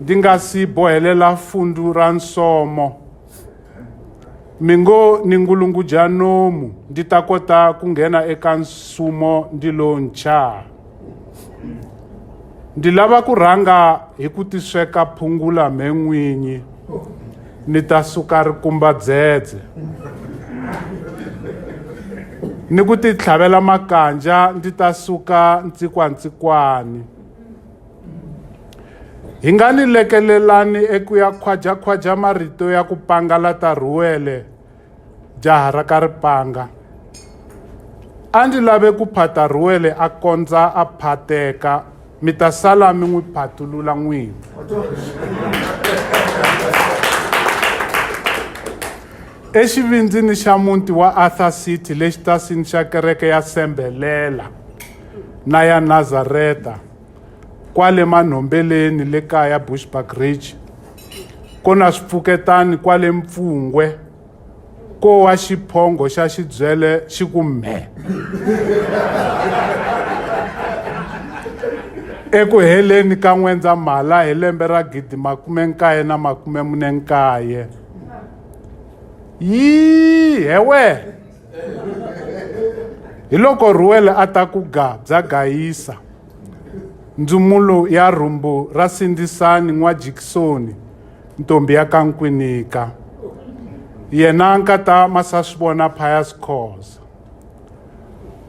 ndi nga si bohelela fundu ra nsomo mi ngo ni ngulungudya nomu ndi ta kota ku nghena eka nsumo ndi lo nchaa ndi lava ku rhanga hi ku tisweka phungula mhe n'winyi ni ta suka rikumba dzedze ni ku titlhavela makanja ndzi ta suka ntsikwantsikwani Hi nga ni lekelelani eku ya khwaja-khwaja marito ya ku pangalata Rhuwele, jaha ra ka Ripanga. A ndzi lave ku phata Rhuwele a kondza a phateka, mi ta sala mi n'wi phatulula n'wini. Exivindzini xa muti wa Arthur City le xitasini xa kereke ya Sembelela na ya Nazareta, kwale manhombeleni le kaya bushbuck ridge ko na swipfuketani kwale mpfungwe ko wa xiphongo xa xibyele xi ku mhe eku heleni ka n'wendzamhala hi lembe ra gidi makume nkaye na makume mune nkaye yii hewe hi loko ruwele a ta ku ga bya gayisa ndzumulo ya rhumbu ra sindzisani n'wa jikisoni ntombi ya ka nkwinika yena nkata masaswivona pius cause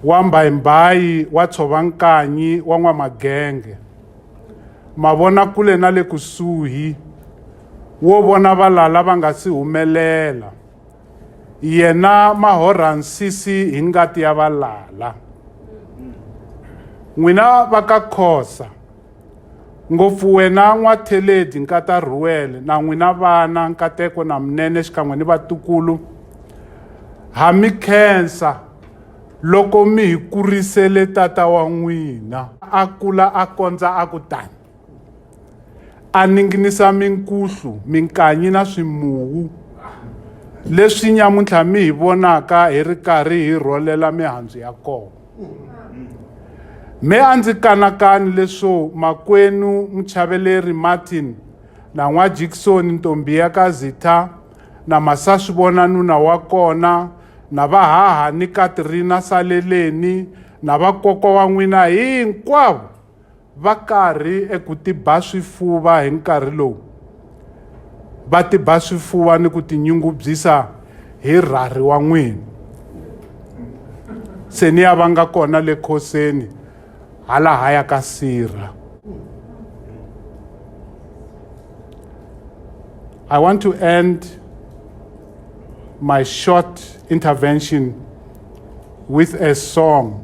wa mbayimbayi wa tshova nkanyi wa n'wamagenge mavona kule na le kusuhi wo vona valala va nga si humelela yena ma horha nsisi hi ngati ya valala n'wina va ka khosa ngopfu wena n'watheledi nkata rhuwele na n'wina vana nkateko na munene xikan'we ni vatukulu ha mi khensa loko mi hi kurisele tata wa n'wina a kula a kondza a ku tani a ninginisa minkuhlu minkanyi na swimuwu leswi nyamuntlha mi hi vonaka hi ri karhi hi rholela mihandzu ya kona me a ndzi kanakani leswo makwenu muchaveleri martin na n'wa jikisoni ntombi ya ka zitha na masaswi vona nuna wa kona na vahaha ni katrina saleleni na vakokwa wa n'wina hinkwavo Va karhi eku tiba swifuva hi nkarhi lowu. Va tiba swifuva ni ku tinyungubyisa hi rhari wa n'wini. Se ni ya va nga kona le khoseni hala haya ka sirha. I want to end my short intervention with a song.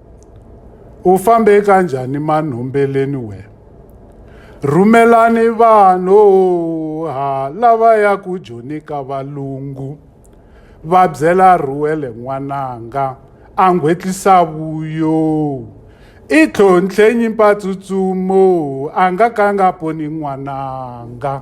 U fambe kanjhani manhombeleni wena? Rhumelani vanhu ha lava ya ku joni ka valungu va byela Ruwele n'wananga a nghwetlisa vuyo i tlhontlhenyi mpatsutsumo a nga ka nga poni n'wananga.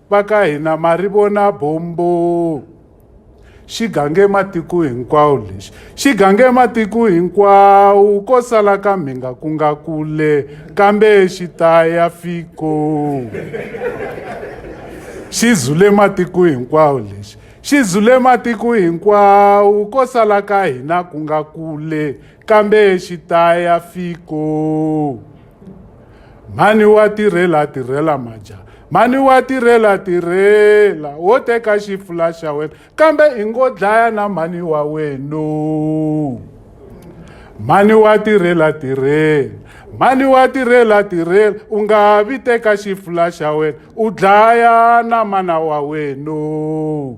Va ka hina ma ri vona bombo xi gange matiko hinkwawo lexi xi gange matiko hinkwawo ko sala ka mhinga ku nga kule kambe xi ta ya fiko xi zule matiko hinkwawo lexi xi zule matiko hinkwawo ko sala ka hina ku nga kule kambe xi ta ya fiko mhani wa tirhela tirhela maja mhani wa tirhela tirhela wo teka xifula xa wena kambe i ngo dlaya na mhani wa wenu mhani wa tirhela tirhela mhani wa tirhela tirhela u nga vi teka xifula xa wena u dlaya na mana wa wenu